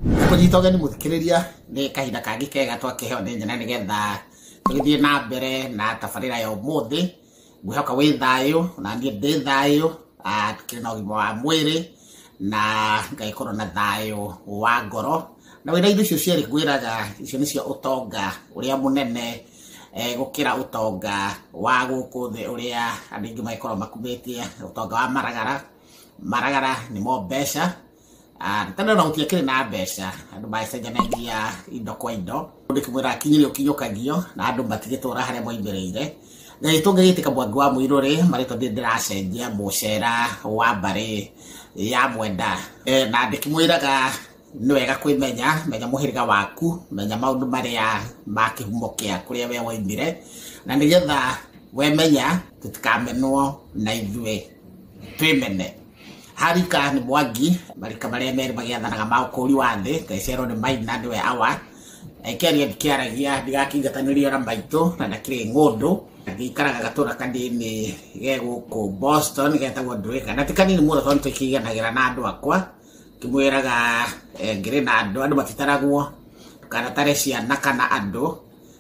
Nĩ tũnyita ũgeni mũthikĩrĩria nĩ kahinda kangĩ kega twakĩheo nĩ Nyene nĩgetha tũgĩthiĩ na mbere na tabarĩra ya ũmũthĩ ngwĩhoka wĩ thayũ na niĩ ndĩ thayũ ah, kĩrĩ na ũgima wa mwĩrĩ na ngagĩkorwo na thayũ wa ngoro na wĩna indo icio cierĩ ngwĩraga icio nĩcio ũtonga ũrĩa mũnene eh, gũkĩra ũtonga wa gũkũ thĩ ũrĩa andũ aingĩ magĩkorwo makumĩtie ũtonga wa maragara maragara nĩmo mbeca Ah, nĩ tondũ ona gũtirĩ kĩrĩ na mbeca andũ macenjanagia indo kwa indo mũndũ kĩmwĩra akinyĩre ũkinyũkagio na andũ matigĩtũra harĩa moimĩrĩire na tũngĩgĩtĩka mwangi wa mũirũ rĩ marĩtwa ndĩ ndĩracenjia mũcera wa mbarĩ ya mwenda Eh, na ndĩkĩmwĩraga nĩ wega kwĩmenya menya mũhĩrĩga waku menya maũndũ marĩa ma kĩhumo kĩa kũrĩa we woimire na nĩgetha wemenya tũtikamenwo na ithuĩ twĩmene Harika nĩ Mwangi, marika marĩa merĩ magĩathanaga ma ũkũũri wa thĩ, Kaisero nĩ Maina nĩwe Awa, Ekeria ndikĩaragia ndigakĩingatanĩrio na maitũ na ndakĩrĩ ng'ũndũ, gĩikaraga gatũra kanini ge gũkũ Boston getagwo Ndwĩka, na ti kanini mũno tondũ tũkĩiganagĩra na andũ akwa, kĩmwĩraga ngĩrĩ na andũ, andũ matitaragwo, ndũkanatare ciana kana andũ.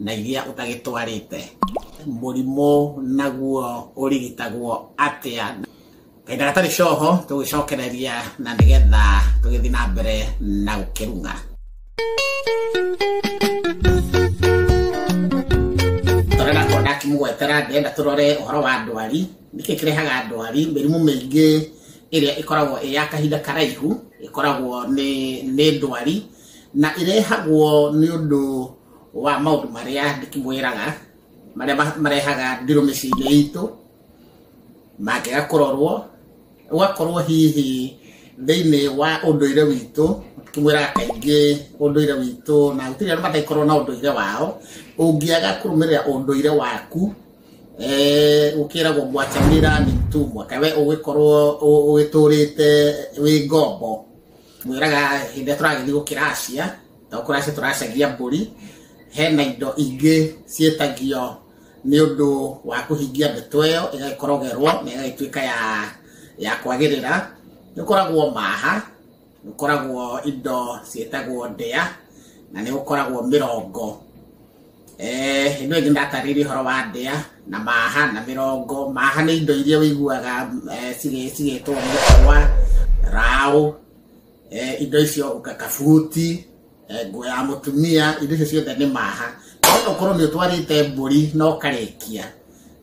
na iria ũtagĩtwarĩte. Mũrimũ naguo ũrigitagwo atĩa? Kaĩ ndagatarĩ coho tũgĩcokereria na nĩgetha tũgĩthiĩ na mbere na gũkĩrung'a. Tondũ ndakorwo ndakĩmũgwetera ndĩrenda tũrore ũhoro wa ndwari. Nĩkĩ kĩrehaga ndwari? Mĩrimũ mĩingĩ ĩrĩa ĩkoragwo ĩ ya kahinda karaihu ĩkoragwo nĩ nĩ ndwari na ĩrehagwo nĩ ũndũ wa maũndũ marĩa ndĩkĩmwĩraga marĩa ma- marehaga ndĩrũ mĩciĩ-inĩ itũ mangĩga kũrorwo ũgakorwo hihi thĩinĩ wa ũndũire witũ kĩmwĩraga kaingĩ ũndũire witũ na gũtirĩ andũ mataikorwo na ũndũire wao ũngĩaga kũrũmĩrĩra ũndũire waku eh, gũkĩragwo gwacamĩra mitu mwaka we ũgĩkorwo ũ- ũgĩtũrĩte wĩ ngombo mwĩraga hĩndĩ ĩrĩa tũragĩthiĩ gũkĩracia okorwo acio tũracagia mbũri hena indo ingĩ ciĩtagio nĩ ũndũ wa kũhingia ndeto ĩyo ĩgagĩkorogerwo na ĩgagĩtuĩka ya ya kwagĩrĩra nĩ ũkoragwo maha nĩ ũkoragwo indo ciĩtagwo ndĩa na nĩ ũkoragwo mĩrongo Eh, ĩno ĩngĩ ndatarĩirie ũhoro wa ndĩa na maha na mĩrongo maha nĩ indo iria ũiguaga eh, cigĩ- cigĩtwo mũkwa raũ eh, indo icio ũkaka buti eh, nguo ya mũtumia indo icio ciothe nĩ maha no ũkorwo nĩ ũtwarĩte mbũri na ũkarĩkia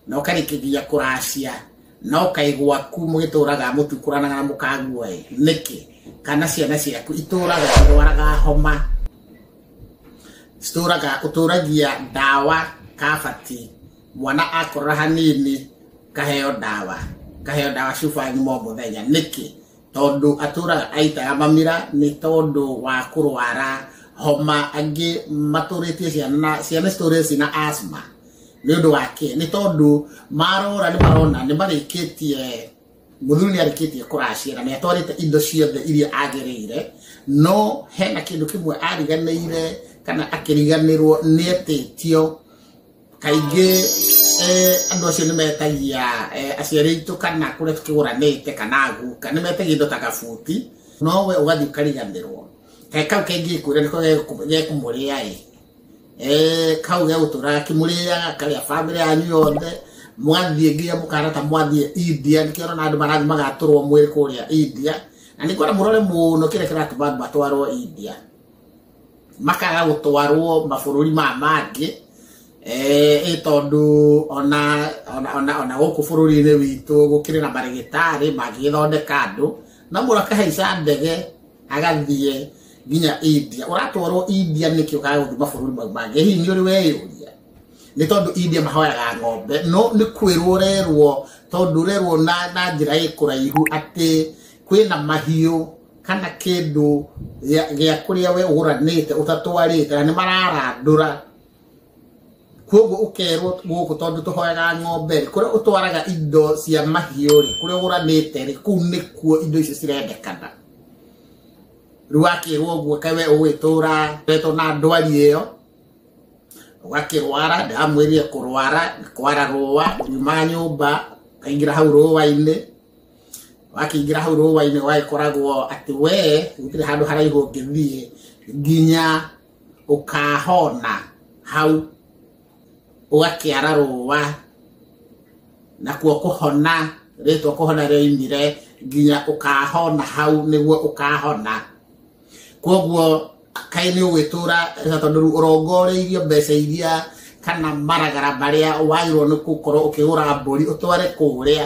na ũkarĩkia nginya kũracia na ũkaigwa ku mũgĩtũraga mũtukũranaga na mũkagua ĩ nĩkĩ kana ciana ciaku itũraga irwaraga homa citũraga ũtũragia ndawa kabati mwana akorora hanini kaheo ndawa kaheo ndawa cuba nyuma o mũthenya nĩkĩ tondũ atũraga aitaga mamira nĩ tondũ wa kũrwara homa angĩ matũrĩtie ciana na ciana citũrĩte cina asthma nĩ ũndũ wake nĩ tondũ marora nĩ marona nĩ marĩkĩtie mũthuri nĩ arĩkĩtie kũracĩra nĩ atwarĩte indo ciothe iria agĩrĩire no hena kĩndũ kĩmwe ariganĩire kana akĩriganĩrwo nĩ etĩtio kaingĩ eh, andũ acio nĩ metagia eh, aciari aitũ kana kũrĩa tũkĩgũranĩte kana guka nĩ metagia indo ta gabuti no we ũgathiĩ ũkariganĩrwo he kau kaingĩ kwĩra nĩko gekũ- gekũmũrĩa ĩ Eh, kau gegũtũraga kĩmũrĩaga karĩa bamĩrĩ yanyu yothe mwathiĩ nginya mũkahana ta mwathiĩ india nĩkĩo ũrona andũ marathiĩ magatũrwo mwĩrĩ kũrĩa india na nĩkwona mũrore mũno kĩrĩa kĩratũma andũ matwarwo india makaga gũtwarwo mabũrũri maya mangĩ eh, ĩ tondũ ona ona- ona ona gũkũ bũrũri-inĩ witũ gũkĩrĩ na marĩgĩtarĩ mangĩgĩthondeka andũ na mũndũ akahaica ndege agathiĩ nginya india ũratwarwo india nĩkĩ ũkaga gũthiĩ mabũrũri mau mangĩ hihi nĩ ũrĩ weyũria nĩ tondũ india mahoyaga ng'ombe no nĩ kwĩrwo ũrerwo tondũ ũrerwo na na njĩra ĩ kũraihu atĩ kwĩna mahiũ kana kĩndũ gĩa gĩa kũrĩa we ũgũranĩte ũtatwarĩte na nĩ mararandũra koguo ũkerwo gũkũ tondũ tũhoyaga ng'ombe rĩ kũrĩa ũtwaraga indo cia mahiũ rĩ kũrĩa ũgũranĩte rĩ kũu nĩkuo indo icio cirendekana rĩu wakĩrwo ũguo kaĩ we ũgwĩtũra wetwo na ndwari ĩyo ũgakĩrwara ndamwĩrire kũrwara kwara rũa nyuma nyũmba kaingĩra hau rũa-inĩ wakĩingĩra hau rũũa-inĩ wagĩkoragwo atĩ we gũtirĩ handũ haraihu ũngĩthiĩ nginya ũkahona hau ũgakĩara rũũa nakuo kũhona rĩtwa kũhona rĩoimire nginya ũkahona hau nĩguo ũkahona kwoguo kaĩ nĩ ũgwĩtũra tondũ rĩu ũrongoreirio mbeca iria kana maragara marĩa wagĩrĩirwo nĩ gũkorwo ũkĩgũra mbũri ũtware kũrĩa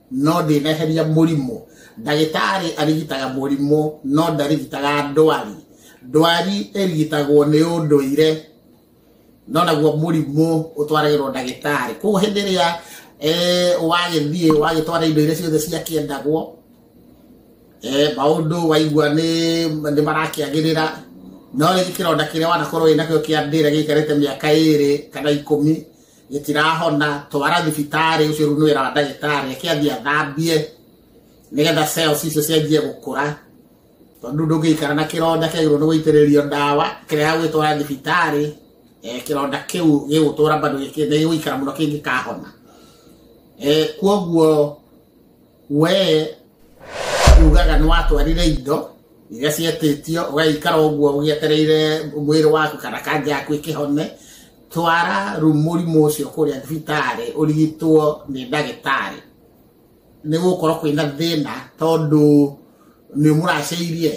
no ndĩneheria mũrimũ ndagĩtarĩ arigitaga mũrimũ no ndarigitaga ndwari ndwari ĩrigitagwo nĩ ũndũire no naguo mũrimũ ũtwaragĩrwo ndagĩtarĩ koguo hĩndĩ ĩrĩa eh, wagĩthiĩ wagĩtwara indo iria ciothe ciakĩendagwo eh, maũndũ waigua nĩ nĩ marakĩagĩrĩra no rĩngĩ kĩronda kĩrĩa wanakorwo wĩnakĩo kĩa ndĩra gĩikarĩte mĩaka ĩrĩ kana ikũmi gĩtirahona twara thibitarĩ ũcio rĩu nĩ wĩra wa ndagĩtarĩ ake athiĩ athambie nĩgetha cells icio cianjie gũkũra tondũ ndũngĩikara na kĩronda kĩagĩrĩirwo nĩ gũitĩrĩrio ndawa kĩrĩa gwĩtwara thibitarĩ eh, kĩronda kĩu gĩgũtũra bado gĩkĩ- nĩ gĩgũikara mũno kĩngĩkahona Eh, kuoguo we ugaga nä watwarire indo iria cietĩtio ũgaikara ũguo ũgĩetereire mwĩrĩ waku kana kanja yaku ĩkĩhone twara ru- mũrimũ ũcio kũrĩa thibitarĩ ũrigitwo nĩ ndagĩtarĩ nĩ gũkorwo kwĩna thĩna tondũ nĩ mũracĩirie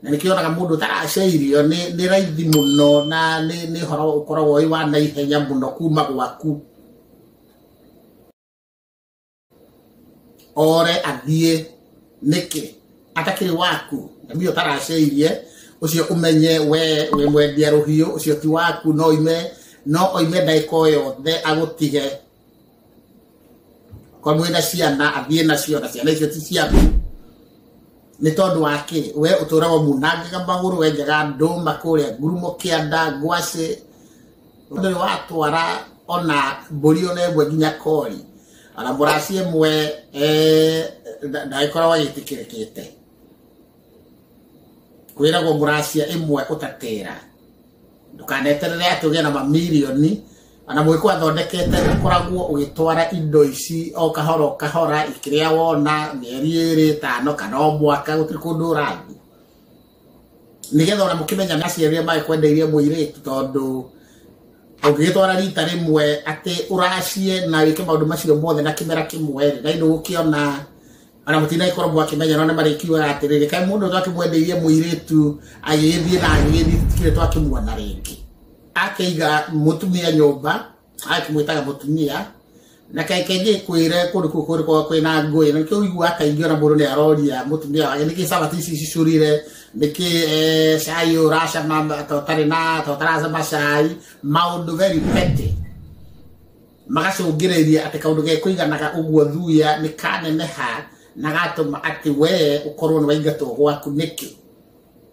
na nĩkĩo onaga mũndũ ũtaracĩirio nĩ nĩ raithi mũno na nĩ nĩ ũhoro ũkoragwo wĩ wa naihenya mũno kuma gwaku ore athiĩ nĩkĩ atakĩrĩ waku ngamia ũtaracĩirie ũcio ũmenye we wĩ mwendia rũhiũ ũcio ti waku no ime no oime ndagĩka o yothe agũtige korwo mwĩ na ciana athiĩ nacio na ciana icio ti ciaku nĩ tondũ wa kĩ we ũtũraga munangaga magũrũ wenjaga ndũma kũrĩa ngurumo kĩanda ngwacĩ ndarĩ watwara ona mbũri ona ĩmwe nginya kori ona mũraci ĩmwe eh, nda- ndagĩkoragwo agĩtĩkĩrĩkĩte kwĩragwo mũracia ĩmwe ũtatĩra ndũkaneterere atĩ ũgĩe na mamirioni ona mũgĩkũ athondekete ũkoragwo ũgĩtwara indo ici o kahora o kahora ikĩrĩa wona mĩeri ĩrĩ ĩtano kana o mwaka gũtirĩ kũndũ ũrathiĩ nigetha ona mukimenya na ciaria mai kwendeirie muiritu tondu ũngĩgĩtwara rita rĩmwe atĩ ũracie na wĩke maũndũ macio mothe na kĩmera kĩmwe rĩ na inĩ gũkĩona ona mũtinai korwo mwakĩmenya no nĩ marĩkiugaga atĩrĩrĩ kaĩ mũndũ twakĩmwendeirie mũirĩtu agĩgĩthiĩ na agĩgĩthiĩ tũtikĩrĩ twakĩmuona rĩngĩ akĩiga mũtumia nyũmba akimwĩtaga mũtumia na kaingĩ ngĩkwĩre kũndũ kũu kũrĩ kwa kwĩna ngũĩ na kĩu igua kaingĩ ona mũndũ nĩ aroria mũtumia wake nĩkĩ sabati ici cicurire nĩkĩ eh, cai ũyũ ũracama ta ũtarĩ na ta ũtaracama cai maũndũ very petty magacũngĩrĩria atĩ kaũndũ gekũiganaga ũguo thuya nĩ kaneneha na gatũma atĩ wee ũkorwo nĩ waingatwo gwaku nĩkĩ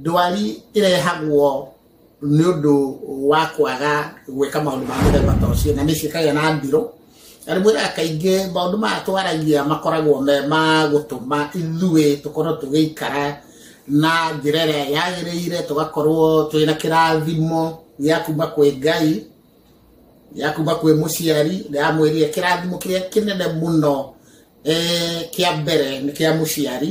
ndwari ĩrehagwo nĩ ũndũ wa kwaga gwĩka maũndũ ma mũthemba ta ũcio na nĩ ciĩkagĩa na ndirũ na rĩmwe na kaingĩ maũndũ maya twaragia makoragwo me ma gũtũma ithuĩ tũkorwo tũgĩikara na njĩra ĩrĩa yagĩrĩire tũgakorwo twĩ na kĩrathimo gĩa kuma kwĩ ngai ya kuma kwĩ mũciari ya mwĩrire kĩrathimo kĩrĩa kĩnene mũno eh, kĩa mbere nĩ kĩa mũciari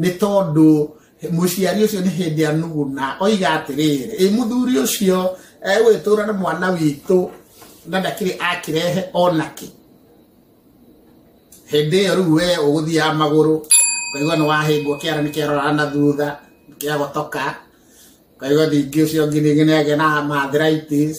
nĩ tondũ mũciari ũcio nĩ hĩndĩ anuguna oiga atĩrĩrĩ ĩ mũthuri ũcio egũgĩtũra na mwana witũ na ndakĩrĩ akĩrehe onakĩ hĩndĩ ĩyo rĩu we ũgũthiaga magũrũ ũkaigua nĩ wahĩngwo kĩara nĩ kĩarora na thutha kĩagotoka ũkaigua ningĩ ũcio ũngĩ ningĩ nĩ agĩa na arthritis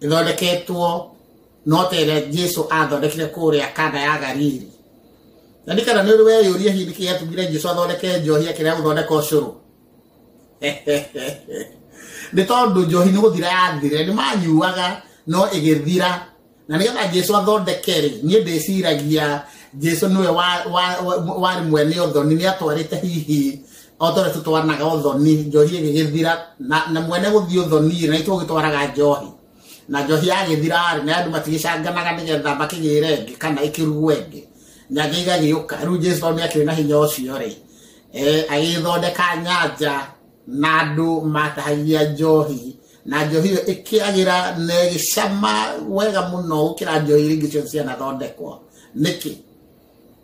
ithondeketwo no ta ĩrĩa jesu athondekire kũrĩa kana ya galili na nĩ kana nĩ ũrĩ weyũria hihi nĩkĩ yatũmire jesu athondeke njohi akĩrĩa gũthondeka ũcũrũ nĩ tondũ njohi nĩ gũthira yathire nĩ manyuaga no ĩgĩthira na nĩgetha jesu athondeke rĩ niĩ ndĩciragia jesu nĩwe wa- wa- wa- warĩ mwene ũthoni nĩ atwarĩte hihi otore tutwanaga uthoni njohi igigithira na na mwene guthii uthoni na itu gitwaraga njohi na njohi yagithira ri na andu matigicanganaga nigetha makigire ngi kana ikirugwe ngi na ngi igagiuka riu jesu tondu akiri na hinya ucio ri eh agithondeka nyanja na andu matahagia njohi na njohi iyo ikiagira na igicama wega muno gukira njohi iria ingĩ ciothe cianathondekwo niki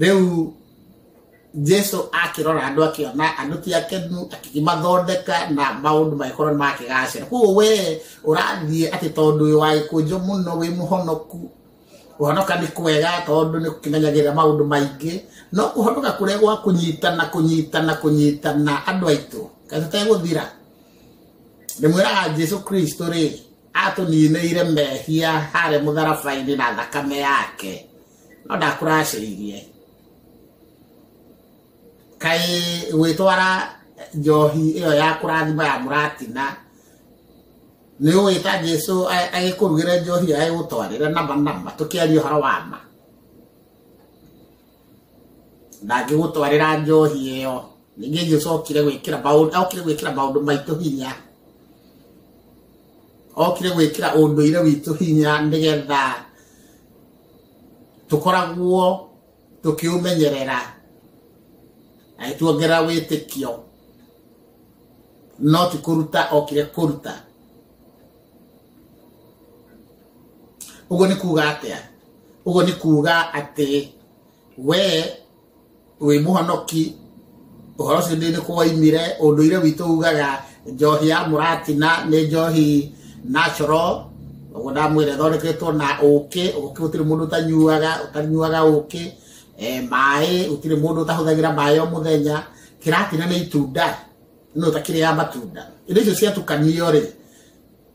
rĩu jesu akĩrora andũ akĩona andũ ti akenu akĩmathondeka na maũndũ magĩkorwo nĩ makĩgacĩra koguo we ũrathiĩ atĩ tondũ ũyũ wagĩkũnjũ mũno wĩ mũhonoku kũhonoka nĩ kwega tondũ nĩ kũmenyagĩrĩra maũndũ maingĩ no kũhonoka kũrĩa gwa kũnyitana kũnyitana kũnyitana andũ aitũ kaĩ tũtegũthira ndĩmwĩraga jesu kristo rĩ atũninĩire mehia harĩ mũtharaba-inĩ na thakame yake no ndakũracĩrĩirie kaĩ gwĩtwara njohi ĩyo ya kũrathima ya mũratina nĩ ũgwĩta jesu a- agĩkũrugĩre njohi agĩgũtwarĩre nama nama tũkĩaria ũhoro wa ma ndangĩgũtwarĩra njohi ĩyo ningĩ jesu okire gwĩkĩra maũndũ okire gwĩkĩra maũndũ maitũ hinya okire gwĩkĩra ũndũire witũ hinya nĩgetha tũkoragwo tũkĩũmenyerera na nĩtuongerera wĩtĩkio no ti kũruta okire kũruta ũguo nĩ kuga atĩa ũguo nĩ kuga atĩ we wĩ mũhonoki ũhoro ũcio nĩ kũwaimire ũndũire witũ ugaga njohi ya mũratina nĩ njohi natural ũguo ndamwĩra ĩthondeketwo na ũkĩ ũkĩ gũtirĩ mũndũ ũtanyuaga ũtanyuaga ũkĩ eh, maĩ gũtirĩ mũndũ ũtahũthagĩra maĩ o mũthenya kĩratina nĩ itunda no takĩrĩ ya matunda indo icio ciatukanio rĩ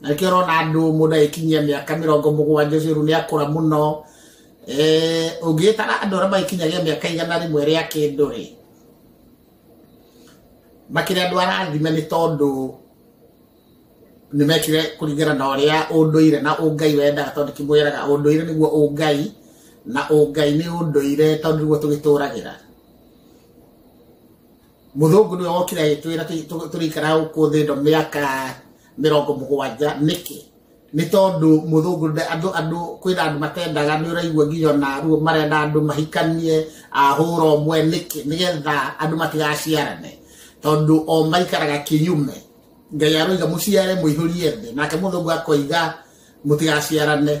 na nĩkĩo ũrona andũ mũndũ agĩkinyia mĩaka mĩrongo mũgwanja ũcio rĩu nĩ akũra mũno Eh, ũngĩgĩtara andũ arĩa magĩkinyagia mĩaka igana rĩmwe rĩa kĩndũ rĩ makĩrĩ andũ arathime nĩ tondũ nĩ mekire kũringana na ũrĩa ũndũire na ũngai wendaga tondũ kĩmwĩraga ũndũire nĩguo ũngai na ũngai nĩ ũndũire tondũ nĩguo tũgĩtũragĩra muthungu niwe wokire agitwira turikara guku thi ndo miaka mirongo mugwanja niki ni tondu muthungu andu andu kwina andu matendaga ni uraigua nginya na ruo marenda andu mahikanie ahura omwe niki nigetha andu matigaciarane tondu o maikaraga kiyume ngai aroiga muciare muihurie thi nake muthungu akoiga mutigaciarane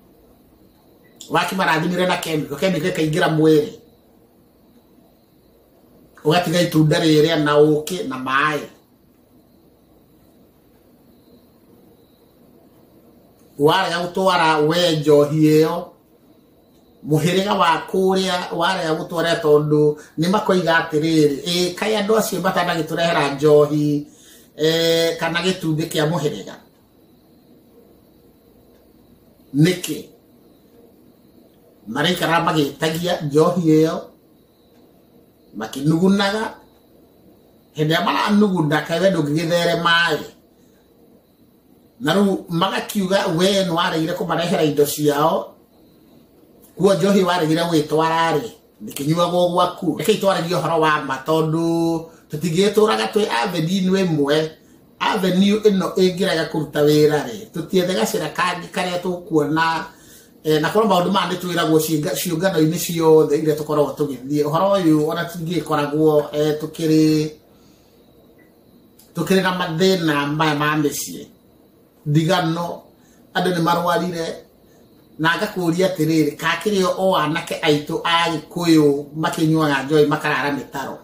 waki marathimire na kemi kemi gakaingĩra mwĩrĩ ũgatiga itunda rĩrĩa na ũkĩ na maĩ warega gũtwara we njohi ĩyo mũhĩrĩga wa kũrĩa warega gũtwara tondũ nĩ makoiga atĩrĩrĩ ĩ kaĩ andũ acio matanagĩtũrehera njohi eh, kana gĩtumbĩ kĩa mũhĩrĩga nĩkĩ maraikara magĩtagia njohi ĩyo makĩnugunaga hĩndĩ ĩrĩa maranuguna kaĩ we ndũngĩgĩtheremaĩ na rĩu magakiuga we nĩ waregire kũmarehera indo ciao kuo njohi waregire gwĩtwara-rĩ ndĩkĩnyuagwo gwaku reke itwaragie ũhoro wa ma tondũ tũtingĩgĩtũraga twĩ aveni-inĩ ĩmwe avenue ĩno ĩngĩrega kũruta wĩra rĩ tũtiethe gacĩra kangĩ karĩa tũkuona eh, na korwo maũndũ maya nĩ twĩragwo ciĩnga- ciũngano-inĩ ciothe iria tũkoragwo tũgĩthiĩ ũhoro ũyũ ona tingĩkoragwo eh, tũkĩrĩ tũkĩrĩ na mathĩna maya ma mĩciĩ ndigano andũ nĩ marwarire na ngakũria atĩrĩrĩ kakĩrĩ o anake aitũ a gĩkũyũ makĩnyuaga njoĩ makarara mĩtaro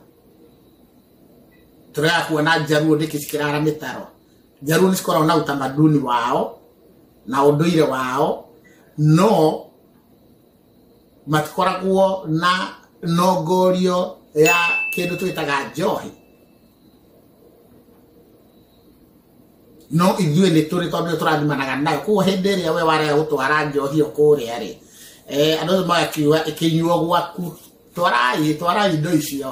Tũrega kuona njaruo nĩkĩ cikĩrara mĩtaro. Njaruo nĩ cikoragwo na utamaduni wao na ũndũire wao no matikoragwo na nongorio ya kĩndũ twĩtaga njohi no ithuĩ nĩ tũrĩ tondũ nĩ tũrathimanaga nayo koguo hĩndĩ ĩrĩa we warega gũtwara njohi ĩyo kũrĩa rĩ eh, andũ acio magakiuga ĩkĩnyuo gwaku twarai twarai indo icio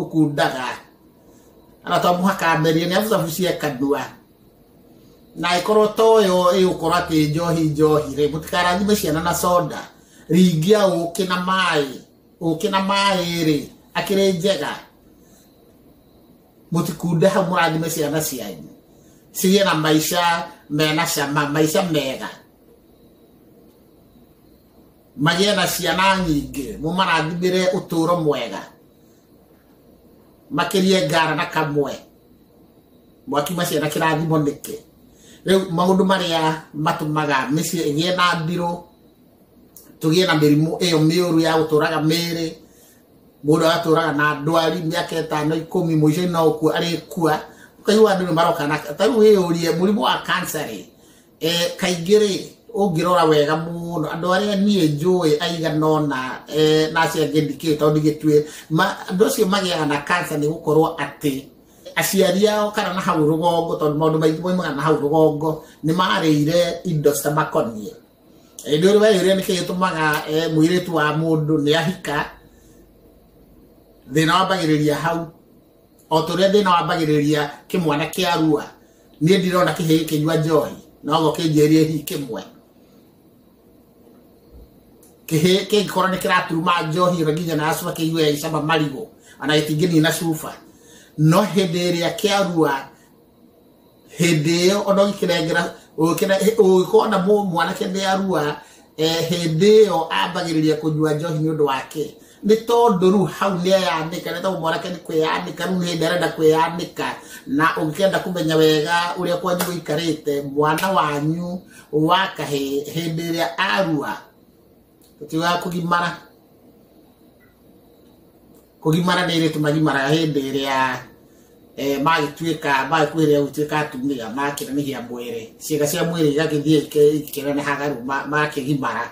ũkundaga na to mũhaka merie nĩ abucabu cieka ndua na ĩkorwo toyo ĩgũkorwo atĩ njohi njohi rĩ mũtikarathime ciana na soda ringia ũkĩ na maĩ ũkĩ na maĩ rĩ akĩrĩ njega mũtikunde hau mũrathime ciana cianyu cigĩe na maica mena cama maica mega magĩe na ciana nyingĩ mũmarathimĩre ũtũũro mwega makĩrie ngara na kamwe mwakiuma ciana kĩrathimo nĩkĩ rĩu maũndũ marĩa matũmaga mĩciĩ ĩgĩe na ndirũ tũgĩe na mĩrimũ ĩyo mĩũru ya gũtũraga mĩĩrĩ mũndũ agatũraga na ndwari mĩaka ĩtano ikũmi mũico-inĩ no gũkua arĩkua ũkaigua andũ nĩ maroka na ta rĩu wĩyũrie mũrimũ wa kansarĩ Eh, kaingĩ rĩ ũngĩrora wega mũno andũ arĩa niĩ njũĩ aigana ũna eh, na acio angĩ ndikĩũĩ tondũ ndigĩtuĩ ma- andũ acio magĩaga na kansa nĩ gũkorwo atĩ aciari ao kana na hau rũgongo tondũ maũndũ maingĩ moimaga na hau rũgongo nĩ marĩire indo citamakoniĩ Eh, nĩ ũrĩ weyũria nĩkĩ gĩtũmaga eh, mũirĩtu wa mũndũ nĩ ahika thĩna wambagĩrĩria hau o ta ũrĩa thĩna wambagĩrĩria kĩmwana kĩa rua niĩ ndirona kĩhĩ gĩkĩnyua njohi nogo kĩnjĩrie hihi kĩmwe kĩhĩ kĩngĩkorwo nĩ kĩraturuma njohi ĩyo nginya na cuba kĩigue ya icama marigũ ona gĩtingĩnina cuba no hĩndĩ ĩrĩa kĩa rua hĩndĩ ĩyo ona ũgĩkĩrengera ũgĩkorwo na mwanake nĩ arua eh, hĩndĩ ĩyo ambagĩrĩria kũnyua njohi nĩ ũndũ wake nĩ tondũ rĩu hau nĩ eyanĩka nĩ tondũ mwanake nĩ kwĩyanĩka rĩu nĩ hĩndĩ arenda kwĩyanĩka na ũngĩkenda kũmenya wega ũrĩa kwanyu gũikarĩte mwana wanyu wa kahĩ hĩndĩ ĩrĩa arua tũtigaga kũgimara kũgimara nĩ irĩtu magimaraga hĩndĩ ĩrĩa eh, magĩtuĩka magĩkuhĩrĩria gũtuĩka atumia makĩnanihia mwĩrĩ ciĩga cia mwĩrĩ igagĩthiĩ ikĩ- ikĩnenehaga rĩu ma- makĩgimara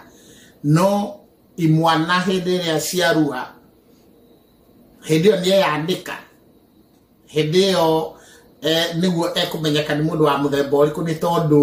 no imwana hĩndĩ ĩrĩa ciarua hĩndĩ ĩyo nĩeyanĩka hĩndĩ ĩyo eh, nĩguo ekũmenyeka nĩ mũndũ wa mũthemba ũrĩkũ nĩ tondũ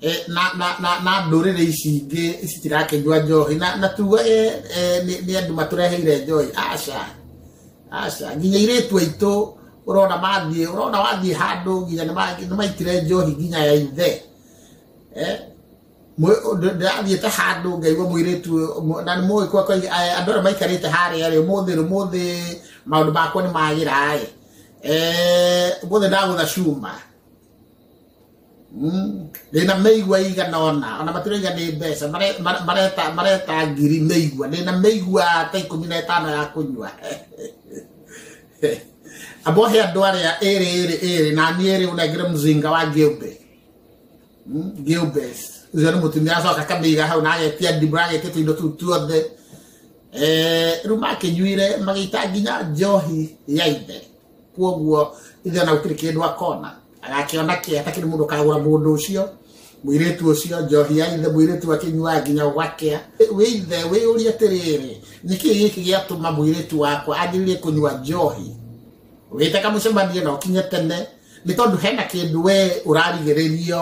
eh, na na na na ndũrĩrĩ ici ingĩ citirakĩnyua njohi na na tuga eh, eh, nĩ nĩ andũ matũreheire njohi aca aca nginya irĩtu aitũ ũrona mathiĩ ũrona wathiĩ handũ nginya nĩ ma- nĩ maitire njohi nginya ya ithe eh Mwe- ndĩ- ndĩrathiĩ ta handũ ngaigua mũirĩtu ũyũ, mwe- na nĩ mũĩ kwa kwa andũ arĩa maikarĩte harĩa rĩ ũmũthĩ rĩ ũmũthĩ maũndũ makwa nĩ magĩra ĩ ũmũthĩ ndagũtha cuma ndĩna mĩigua igana ona ona matiraiga nĩ mbeca mare- mare- mareta mareta ngiri mĩigua ndĩna mĩigua ta ikũmi na ĩtano ya kũnyua abohe andũ arĩa ĩrĩ ĩrĩ ĩrĩ na niĩ rĩu nengere mũzinga wa ngĩũmbe ngĩũmbe ũcio nĩ mũtumia acoka akamĩiga hau na agetia ndibura agetia tũindo tũu tuothe Eh, rĩu makĩnyuire magĩita nginya njohi ya ithe kuoguo ithe ona gũtirĩ kĩndũ akona agakĩona kĩ atakĩrĩ mũndũ ũkagũra mũndũ ũcio mwĩrĩtu ũcio njohi ya ithe mwĩrĩtu akĩnyuaga nginya gwakĩa wĩ ithe wĩyũria atĩrĩrĩ nĩkĩ gĩkĩ gĩatũma mwĩrĩtu wakwa anjĩrĩrie kũnyua njohi wĩte kamũcemanie na ũkinye tene nĩ tondũ hena kĩndũ we ũrarigĩrĩrio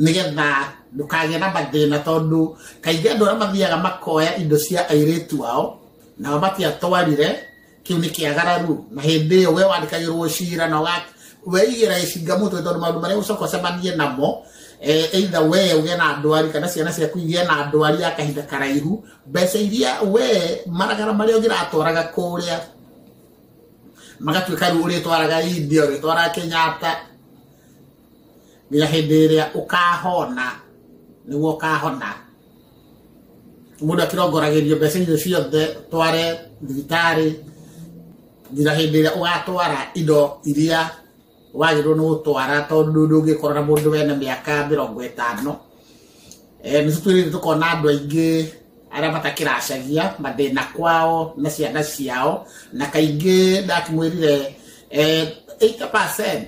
nĩgetha ndũkagĩa na mathĩna tondũ kaingĩ andũ arĩa mathiaga makoya indo cia airĩtu ao nao matiatwarire kĩu nĩ kĩagararu na hĩndĩ ĩyo we wandĩkagĩrwo cira na weigĩra gĩcinga mũtwe tondũ maũndũ marĩa ũcoka ũcemanie namo eh, eitha we ũgĩe na ndwari kana ciana ciaku igĩe na ndwari ya kahinda karaihu mbeca iria we maragara marĩa ũngĩratwaraga kũrĩa magatuĩka rĩu ũrĩtwaraga India ũrĩtwaraga Kenyatta nginya hĩndĩ ĩrĩa ũkahona nĩguo ũkahona mũndũ akĩrongoragĩrio mbeca icio ciothe tware thibitarĩ nginya hĩndĩ ĩrĩa ũgatwara indo iria wagĩrĩirwo nĩ gũtwara tondũ ndũngĩkorwo na mũndũ wena mĩaka mĩrongo ĩtano eh, nĩ tũtwĩrĩire tũkona andũ aingĩ arĩa matakĩracagia mathĩna kwao na ciana ciao na kaingĩ ndakĩmwĩrire 80% eh,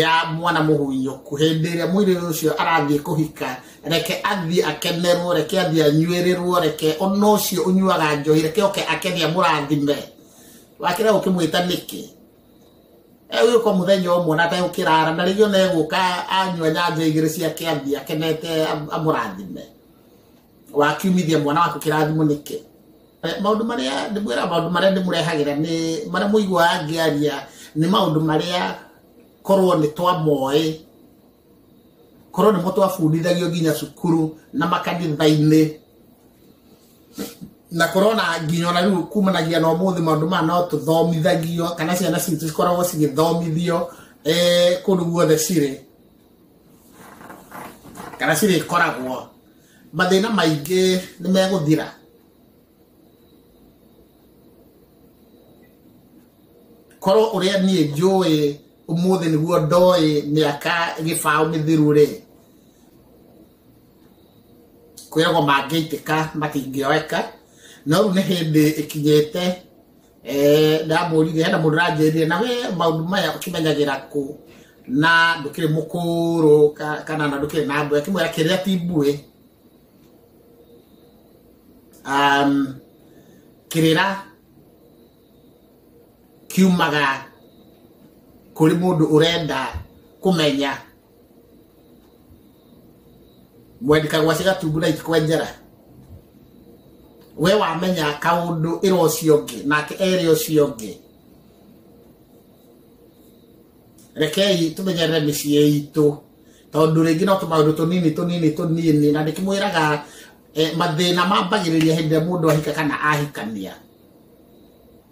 ya mwana mũhuinyo ku hĩndĩ ĩrĩa mũirĩrĩ ũcio arathiĩ kũhika reke athiĩ akenerwo reke athiĩ anyuĩrĩrwo reke ona ũcio ũnyuaga njohi reke oke akeni amũrathime wakĩra ũkĩmwĩta nĩkĩ egũka mũthenya ũmwe na ategũkĩrara na rĩngĩ ona egũka anyua nyanjo igĩrĩ ciake athiĩ akenete amũrathime wakiumithia mwana waku kĩrathimo nĩkĩ Eh, maũndũ marĩa ndĩmwĩra maũndũ marĩa ndĩmũrehagĩra nĩ marĩa mũiguaga ngĩaria nĩ maũndũ marĩa korwo nĩ twamoĩ korwo nĩmo twabundithagio nginya cukuru na makanitha-inĩ na korona nginya ona rĩu kumanagia na ũmũthĩ maũndũ maya no tũthomithagio kana ciana citũ cikoragwo cigĩthomithio eh, kũndũ guothe cirĩ kana cirĩkoragwo mathĩna maingĩ nĩ megũthira korwo ũrĩa niĩ njũĩ ũmũthĩ nĩguo ndoĩ mĩaka gĩbaũ mĩthiru rĩ kwĩragwo mangĩitĩka matingĩoeka no rĩu nĩ hĩndĩ ĩkinyĩte Eh, ndamũrire hena mũndũ ranjĩrire na we maũndũ maya ũkĩmenyagĩra kũ na ndũkĩrĩ mũkũrũ ka- kana na ndũkĩrĩ na mbwe akĩmwĩra kĩrĩa ti mbuĩ um, kĩrĩra kiumaga kũrĩ mũndũ ũrenda kũmenya mwendika gwaci gatungu na itikwenjera we wamenya kaundu ira ucio ungi nake ere ucio ungi rekei tumenyerere mĩciĩ itũ tondũ rĩngĩ no tũmaũndũ tũnini tũnini tũnini na ndĩkĩmwĩraga eh, mathĩna mambagĩrĩria hĩndĩ ĩrĩa mũndũ ahika kana ahikania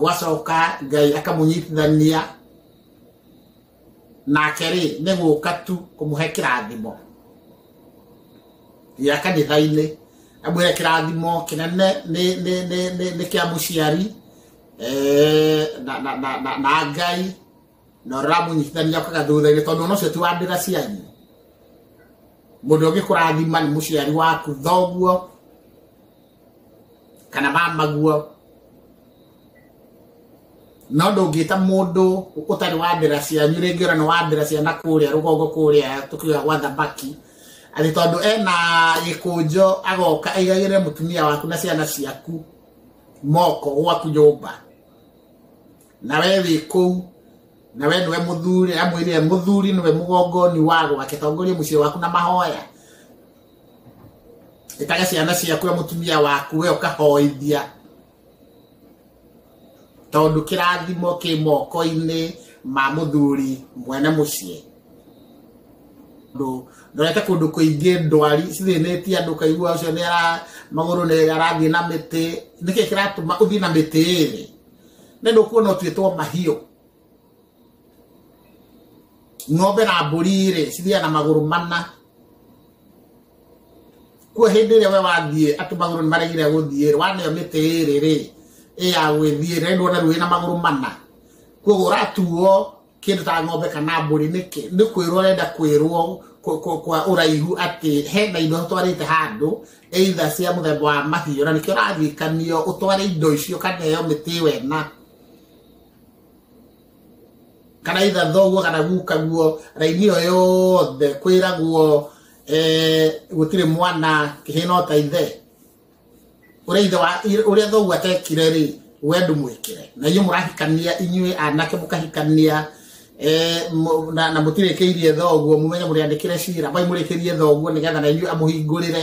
gwacoka ngai akamũnyitithania nake rĩ nĩ gũka tu kũmũhe kĩrathimo gĩa kanitha-inĩ amwĩre kĩrathimo kĩnene nĩ- nĩ- nĩ- nĩ- nĩ kĩa mũciari eh, na- na- na- na- na ngai na ũramũnyitithania ũkaga thutha-inĩ tondũ ona ũcio ti wa ndĩra cianyu mũndũ ũngĩ kũrathima nĩ mũciari waku thoguo kana ba maguo no ndũngĩta mũndũ ũtarĩ wa ndĩra cianyu rĩngĩ ũra nĩ wa ndĩra cia na kũrĩa rũgongo kũrĩa tũkiuga gwa thamaki atĩ tondũ ena gĩkũnjo agoka aigagĩre mũtumia waku na ciana ciaku moko gwaku nyũmba na we wĩ kũu na we nĩwe mũthuri amwĩrire mũthuri nĩwe mũgongoni wa gwake tongoria mũciĩ waku na mahoya ĩtage ciana ciaku na mũtumia waku we ũkahoithia tondũ kĩrathimo kĩ moko-inĩ ma mũthuri mwene mũciĩ tondũ ndorete kũndũ kũingĩ ndwari cithĩnĩtie andũ kaigua ũcio nĩ ara magũrũ nĩ arathiĩ na mĩtĩ nĩkĩ kĩratũma ũthiĩ na mĩtĩ ĩrĩ nĩ ndũkuona ũtuĩtwo mahiũ ng'ombe na mbũri rĩ cithiaga na magũrũ mana kuo hĩndĩ ĩrĩa we wathiĩ atĩ magũrũ nĩ maregire gũthiĩ rĩ waneo mĩtĩ ĩrĩ rĩ ĩya gwĩthiĩ rĩ nĩndwona rĩu ĩna magũrũ mana kuoguo ũratuo kĩndũ ta ng'ombe kana mbũri nĩkĩ nĩ kwĩrwo ũrenda kwĩrwo kwa- kwa kwa ũraihu atĩ hena indo ũtwarĩte handũ either cia mũthemba wa mahiũ na nĩkĩo ũrarikanio ũtware indo icio ũkaneo mĩtĩ ĩyo ĩna kana itha thoguo kana guka guo raini ĩyo yothe kwĩragwo eh, gũtirĩ mwana kĩhĩno ta ithe ũrĩa ithe wa ũrĩa thoguo atekire rĩ we ndũmwĩkĩre na inyuĩ mũrahikania inyuĩ anake mũkahikania eh, mũ- na na mũtirĩkĩirie thoguo mũmenye mũrĩandĩkĩre cira bai mũrĩkĩrie thoguo nĩgetha na inyuĩ amũhingũrĩre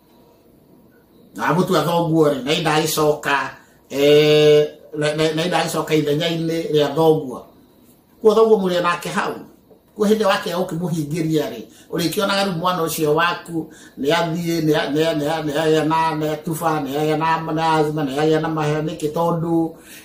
na mũtu a thoguo rĩ na indagĩcoka eh, na- na na indagĩcoka ithenya-inĩ rĩa thoguo kuo thoguo mũrĩ nake hau kuo hĩndĩ wake ũkĩmũhingĩria rĩ ũrĩkĩonaga rĩu mwana ũcio waku nĩ athiĩ nĩ a- nĩ a- nĩ a- nĩ agĩa na nĩ atuba nĩ agĩa na na azima nĩ agĩa na mahĩa nĩkĩ tondũ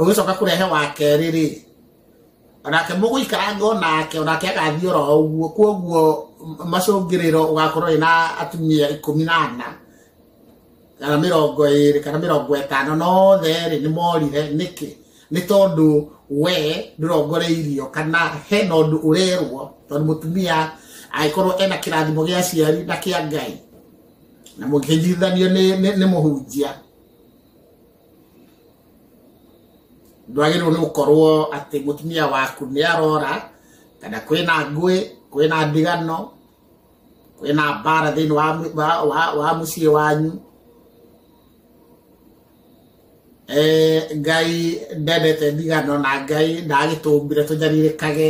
ũgĩcoka kũrehe wa kerĩ rĩ onake mũgũikaranga onake onake agathiĩ oro ũguo kwoguo macũngĩrĩro ũgakorwo ĩna atumia ikũmi na ana kana mĩrongo ĩrĩ kana mĩrongo ĩtano nothe rĩ nĩ morire nĩkĩ nĩ tondũ we ndũrongoreirio kana hena ũndũ ũrerwo tondũ mũtumia agĩkorwo ena kĩrathimo gĩa ciari na kĩa ngai na mũkĩnyithanio nĩ mũhunjia ndwagĩrĩirwo nĩ gũkorwo atĩ mũtumia waku nĩ arora kana kwĩna ngũĩ kwĩna ndigano kwĩna mbara thĩinĩ wa, mũ- wa, wa, wa mũciĩ wanyu Eh, ngai ndendete ndigano na ngai ndagĩtũmbire tũnyarirĩkage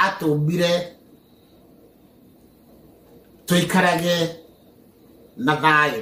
atũmbire tũikarage na thayũ